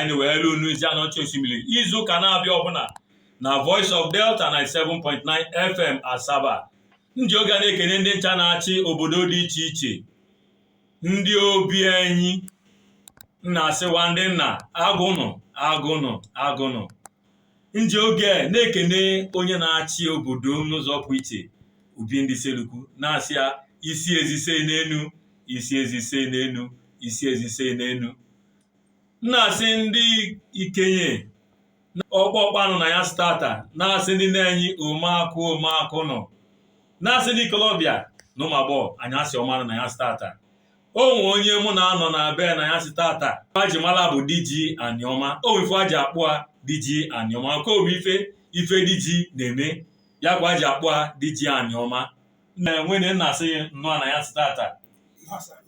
anyị weelu unu ezi Aniocha Oshimili izu ụka na-abịa ọbụla na Voice of Delta 97.9 FM Asaba nji oge a na-ekene ndị ncha na-achị obodo dị iche iche ndị obi anyị na-asị wa ndị nna agụnụ agụnụ agụnụ nji oge na-ekene onye na-achị obodo n'ụzọ pụ iche Obi ndị Issele-Uku na-asị ya isi ezise n'enu isi ezise n'enu isi ezise n'enu na-asị ndị ikenye ọkpọkpa nụ na anyasị tata na-asị ndị nne anyị omeakụ omeakụ nụ na-asị ndị ikolobịa na ụmụ agbọghọ anyasị ọma nụ na anyasị tata o nwe onye mụ na ya nọ nebe na anyasị tata aji mala bụ Diji Anioma o nwe ife aji akpọ a Diji Anioma nke o me ife ife diji na-eme ya ka wa ji akpọ a Diji Anioma na nwanne na-asị ya nnọọ na anyasị tata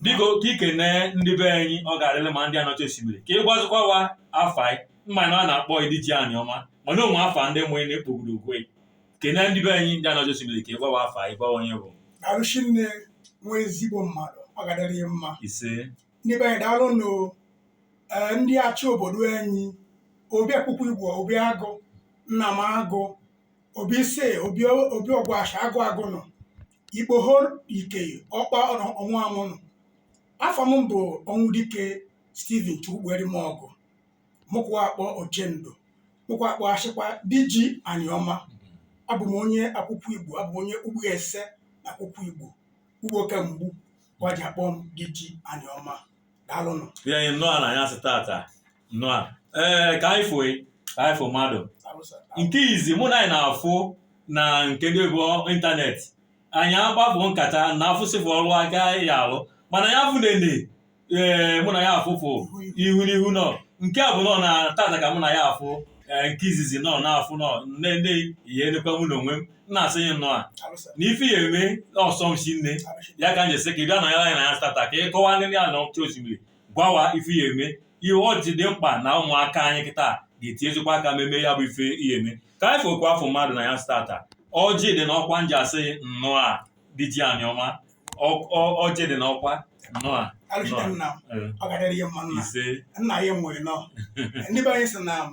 biko ka ikene ndị be anyị ọ ga-adịrị mma ndị Aniocha Oshimili ka ị gwazikwa wa afa ị m ma na a na-akpọ ị Diji Anioma mana o nwe afa ndị mụrụ na-ekpogoro okwe kene ndị be anyị ndị Aniocha Oshimili ka ị gwa wa afa ị gwa wa onye bụ arụchi nne nwa ezigbo mmadụ ọ ga-adịrị ya mma ise ndị be anyị daalụ nụ ee ndị achị obodo anyị obi Akwukwu-Igbo obi agụ nna m agụ obi ise obi obi Ọgwashị agụ agụ nụ ikpoho ike ọkpa ọnụ ọnwụ anwụ nụ afa m bụ Ọnwụdike Steven chukwugberi m ọgụ mụ ka wa akpọ Ochendo mụ ka wa akpọ achịkwa Diji Anioma abụ m onye Akwukwu-Igbo abụ m onye ugbo ese na Akwukwu-Igbo ugbo ka m gbu wa ji akpọ m Diji Anioma daalụnụ ya anyị nnọọ na anyasị tata nnọọ a ee ka anyị fụị ka anyị fụ mmadụ nke izi mụ na anyị na-afụ na nke ndị bụ ịntanetị anyị akpafụ nkata na afụsịfụ ọrụ aka ya alụ mana ya fụ nene ee mụ na ya afụfụ ihu n'ihu nọ nke a bụ nọ na tata ka mụ na ya afụ ee nke izizi nọ na-afụ nọ nne ndị ihe enekwa mụ na onwe m m na-asị ya nnọọ a na ife ya eme ọ sọ m sinne ya ka m ji sị ka ị bịa nọnyere anyị na anyasị tata ka ị kọwa ndị Aniocha Oshimili gwa wa ife ya eme ihe ọ ji dị mkpa na ụmụaka anyị kịta ga-eti ezigbo aka meme ya bụ ife ihe eme ka anyị fokwa afọ mmadụ na anyasị tata ọjị dị n'ọkwa nji asị nnọọ a Diji Anioma Ọ- ọ- ọjị dị n'ọkwa nnọọ a Alụsite nna m, Eh, ọ ga-adịrị ya mma nna. ise Nna ya nwere nọ. Ndị be anyị sị na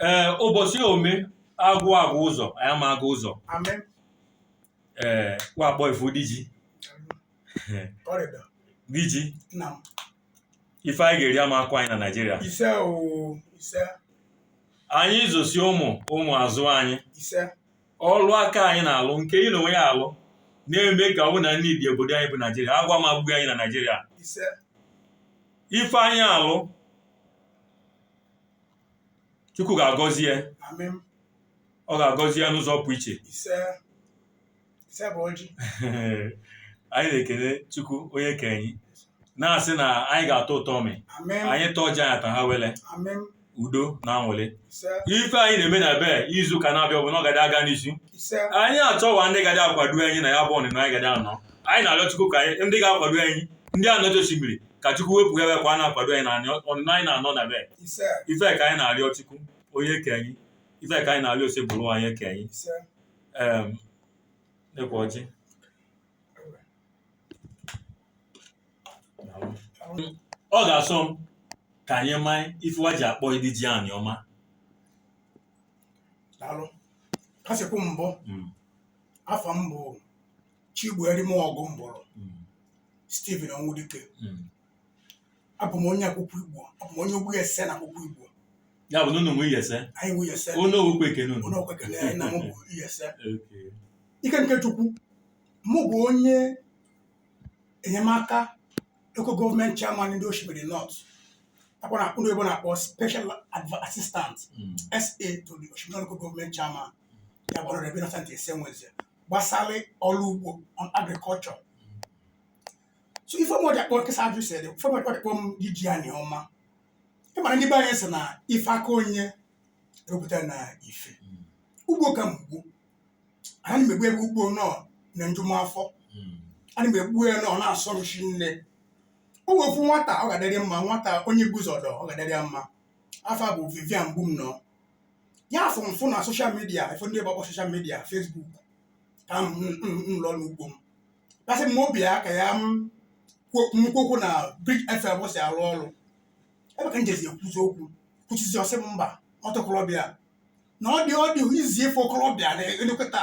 ee ụbọchị ome agwụ aga ụzọ anyị ama aga ụzọ Amen. ee wa kpọ ifu diji Ọrịda. diji Nna m. ife anyị ga-eri ama akọ anyị na naijiria Ise oo. Ise. anyị zụsị ụmụ ụmụ azụ anyị Ise. ọlụ aka anyị na-alụ nke ị n'onwe yị alụ na-eme ka ọ bụ na nni dị obodo anyị bụ naijiria agụụ ma egbughi anyị na naijiria Ise. ife anyị alụ chukwu ga-agọzi ya Amị m. ọ ga-agọzi ya n'ụzọ pụ iche Ise. Ise bụ ọjị. anyị na-ekele chukwu onye ke anyị na-asị na anyị ga-atọ ụtọ ọmị Amị m. anyị ta ọjị anyị ata ha wele Amị m. udo na anwụlị Ise. ife anyị na-eme na be izu ụka na-abịa ọ bụ na ọ gadị aga n'isi Ise. anyị achọwa ndị gadị akwado anyị na ya bụ ọnịnọ anyị gadị anọ anyị na-arịọ chukwu ka anyị ndị ga-akwado anyị ndị Aniocha Oshimili ka chukwu wepụ ya ka wa na-akwado anyị na ọnịnọ anyị na-anọ na be ise ife ka anyị na-arịọ chukwu onye ke anyị ife ka anyị na-arịọ Osebụrụwa onye ke anyị ise em nekwa ọjị ọ ga-asọ m ka anyị maa ife wa ji akpọ ị Diji Anioma daalụ ka i si kwu mbụ Mm. afa m bụ Chigbueremọgụ m bụrụ Stephen Onwudike abụ m onye Akwukwu Igbo abụ m onye Ogbe Iyase na Akwukwu Igbo ya bụ na unu nwe Iyase anyị nwe Iyase unu okwu ekene unu onye okwu ekene anyị na mụ bụ Iyase Okay. ike nke Chukwu mụ bụ onye enyemaka local gọọmenti chairman ndị Oshimili North akwa na akpụrụ ebe na-akpọ special Adv- assistant Mm. SA to the Oshimili local gọọmenti chairman ya bụ Honourable Innocent Esewezie gbasara ọrụ ugbo on agriculture so ife me wa ji akpọ m ka i si ajụ sịrị ife me wa ji akpọ m Diji Anioma ị mara ndị be anyị sị na ife aka onye ewepụta na ife ugbo ka m gbu ana m egbu egbu ugbo na ọ na-eju m afọ ana m egbu ya na ọ na-asọ m shinne o nwe ofu nwata ọ ga-adịrị mma nwata onye Igbuzọ ọ ga-adịrị ya mma afa a bụ Vivian Mgbumnọ ya afụ m fụ na soshal midia ife ndị oyibo akpọ soshal midia fesbuk ka m nọ n'ugbo m ya sị mụ bịa ka ya na m kwu okwu na Bridge fm ebe o si arụ ọrụ ebe ka m jezi ekwuzi okwu kwusizi ọ sị m mba otu okorobịa na ọ dị ọ dị izi ịfụ okorobịa na-elekọta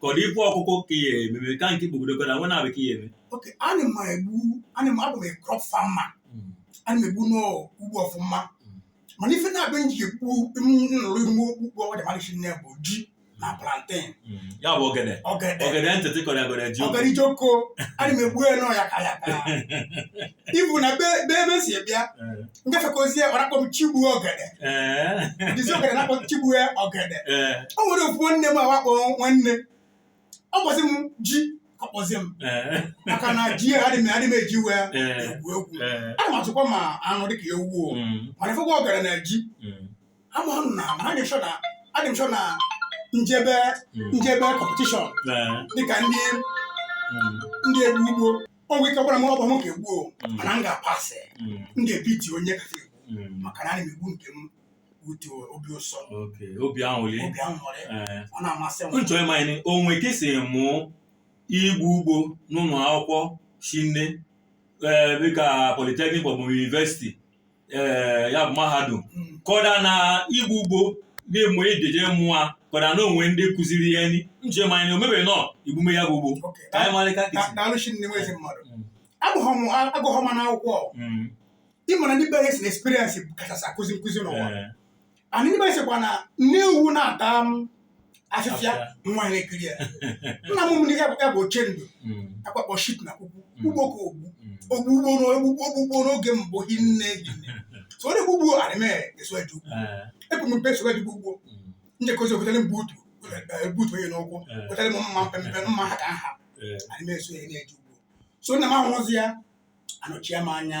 ka ọ dị ife ọkụkụ ka ya ememe ka nke ikpogidekwa na nwa na-abụ ka ya eme okay ana m egbu ana m abụ m crop farmer ana m egbu n'ugbo ọfụma mana ife naabọ m ji egbu nlụrụ ime okpukpe ọgwada mmadụ shinne bụ ji na plantain ya bụ ogede ogede ogede ntịtị kọrọ agọrọ ji ogede jioko ana m egbu ya na ọ ya ka ya ka ibu na be be ebe si bịa Eh, ngafekozie ọ na-akpọ m chigbu ọgede eh, dizi ọgede na-akpọ m chigbu ọgede eh, o nwere ofu nwanne m awakpọ nwanne ọ kpọzi m ji ọ kpọzi m eh, maka na ji ya adị m adị m eji wee eh, egwu egwu eh, ana m atụkwa ma anụ dịka ewu o mm, mana ife ka ọgede na ji mm, ama m na mana adị m sure na adị m sure na m jebe mm, m jebe competition eh, dịka ndị mm. ndị egbu ugbo o nwe ike gwara m ọ bụ m ka egbu o Mm. mana m ga-apasị Mm. m ga-ebiti onye ka egbu Mm. maka na ana m egbu nke m utu obi ụsọ Okay. obi aṅụrị obi ahụ nwere Eh, ọ na-amasị m m chọ ịma nị o nwe ka i si mụ igbu ugbo n'ụlọ akwụkwọ shinne ee dịka polytechnic maọbụ university ee eh, ya bụ mahadum hmm. ka ọ dị na igbu ugbo na-emo ejeje mụọ ka ọ dị na o nwe ndị kụziri ya ni m chọ ịma nị o nwe ebe ị nọ igbume ya bụ ugbo ka anyị marịta daalụ shinne nwa ezi mmadụ hmm. agụghọ m na akwụkwọ hmm. ị ma na ndị be anyị sị na experience kachasị akụzi nkụzi n'ụwa eh. ana ndị be anyị sịkwa na nne ewu na-ata afịfịa nwa na-ekiri ya nna mụrụ m ya bụ ochie ndụ Mm, awa akpọ chief na kwukwu Mm. ugbo ka o gbu mm, o gbu ugbo n'o- o gbu o gbu ugbo n'oge mbụ hinne hinne so ọ na-egbu ugbo anị m eso eje ugbo eh, ebu m mpe eso eje ugbo mm, m jekọzi o gotere m boot boot onye n'ụkwụ eh, gotere m mma mpempe mma ha ka nha eh, anị m eso ya na-eje ugbo so nna m ahụzi ya anọchie m anya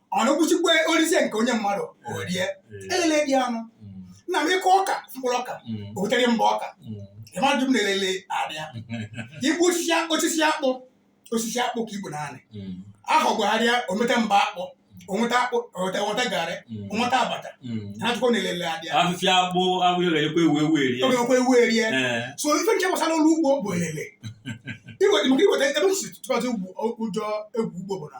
ọ na-egbusikwa o rizie nke o nye mmadụ o rie elele dị anụ nna m ị kụ ọka mkpụrụ ọka o wetere mba ọka ị mara na elele adịa i gbu osisi akpụ osisi akpụ osisi akpụ ka i gbu n'anị ahọ gbagharịa o meta mba akpụ o nweta akpụ o nweta o nweta garị o nweta abacha na-achụkwa na elele adịa afịfịa akpụ abụ ya ga-enyekwa ewu ewu erie o nyekwa ewu erie Ee. so ife nke gbasara ọlụ ugbo bụ elele iweta maka iweta ebe si tụkwasị ugbo ụjọ egbu ugbo bụ na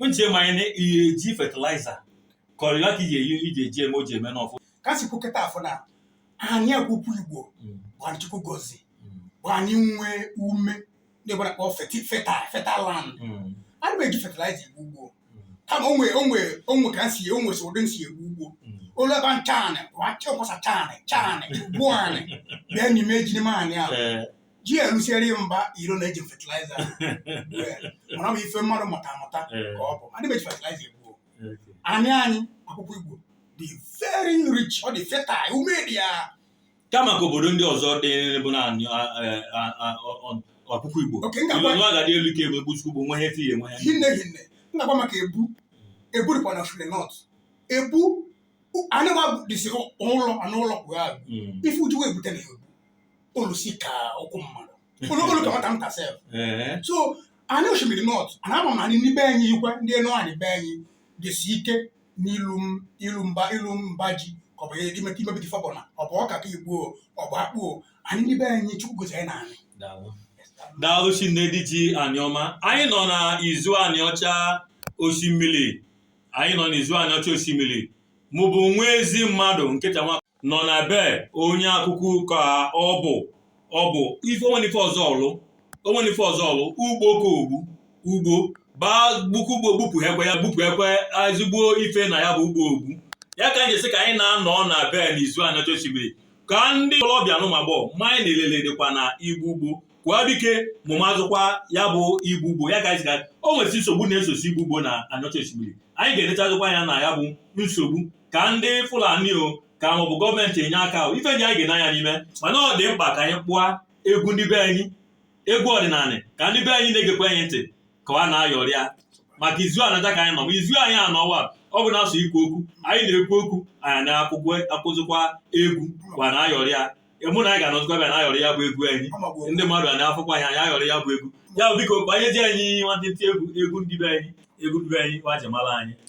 m chọ ịma nị ị na-eji eji fertilizer kọrịla ka iji eyi iji eji eme o ji eme n'ọfụ ka m si kwu keta afụ na anị Akwụkwụ Igbo bụ anị Chukwu gọzi bụ anị nwee ume na-egbe na-akpọ feti feta fertile land adị m eji fertilizer egbu ugbo kama o nwe o nwe o nwe ka m si o nwe si ụdị m si egbu ugbo olu ebe nchanị bụ achị ọkwasa chanị chanị gbuo anị bịa n'ime ejiri m anị ahụ ji erusiere ya mba iro na eji fertilizer mara bụ ife mmadụ mụta amụta ka ọ bụ adị m eji fertilizer egbuo anị anyị Akwụkwụ Igbo dị very rich ọ dị fertile ume dị ya kama ka obodo ndị ọzọ dị bụ na anị Akwụkwụ Igbo oke m ga-agwa iwe agadi elu ka ebe Chukwu bụ nwe ihe fi enwe ya hinne hinne m ga-agwa maka ebu ebu dịkwa na shule north ebu anụma dịsị ụlọ anụ ụlọ kwụ ya ife ujuwe ebute na ya ebu olusi ka ụkwụ mmadụ olu olu ka nwata nta sef Ee. so anyị Osimiri North a na-ama na anyị ndị be anyị ikwe ndị Enuanị be anyị dịsi ike n'ilu m- ilu mba ilu mba ji ka ọ bụ imeta imebite ife ọbụna ọ bụ ọka ka igbo o, ọ bụ akpụ o. anyị ndị be anyị chukwu gozi anyị na anyị Daalụ. daalụ chinne dị ji Anịọma anyị nọ na izu Anịọcha Osimiri anyị nọ na izu Anịọcha Osimiri mụ bụ nwa ezi mmadụ nkịta nwa nọ na be onye akụkụ ka ọ bụ ọ bụ ife o nwene ife ọzọ ọ lụ o nwene ife ọzọ ọ lụ ugbo ka o gbu ugbo baa gbuku ugbo gbupụ ekwe ya gbupụ ekwe ezigbo ife na ya bụ ugbo o gbu ya ka anyị ji sị ka anyị na-anọ na be n'izu Anịọcha Osimiri ka ndị okolobịa na ụmụagbọọ ma ya na elele dịkwa na igbu ugbo kwuo dike ma ma azụkwa ya bụ igbu ugbo ya gazi o nwesị nsogbu na-esosi igbu ugbo na Anịọcha Osimiri anyị ga-enechazikwa anya na ya bụ nsogbu ka ndị Fulani o ka maọbụ gọọmenti enye aka ife ndị anyị ga-ene anya n'ime mana ọ dị mkpa ka anyị kpọọ egwu ndị be anyị egwu ọdịnala ka ndị be anyị na-egekwa anyị ntị ka ọ na-ayọrịa maka izu Anịọcha ka anyị nọ ma izu anyị anọwa ọ bụna sọ ikwu okwu anyị na-ekwu okwu anyị na-akụzikwa egwu kwa na-ayọrịa ya mụ na anyị ga-anọzikwa bịa na-ayọrị ya bụ egwu anyị ndị mmadụ a na-afụkwa anyị anyị ayọrị ya bụ egwu ya bụ biko banye ji anyị nwantịntị egwu egwu ndị be anyị egwu ndị be anyị wa ji mala anyị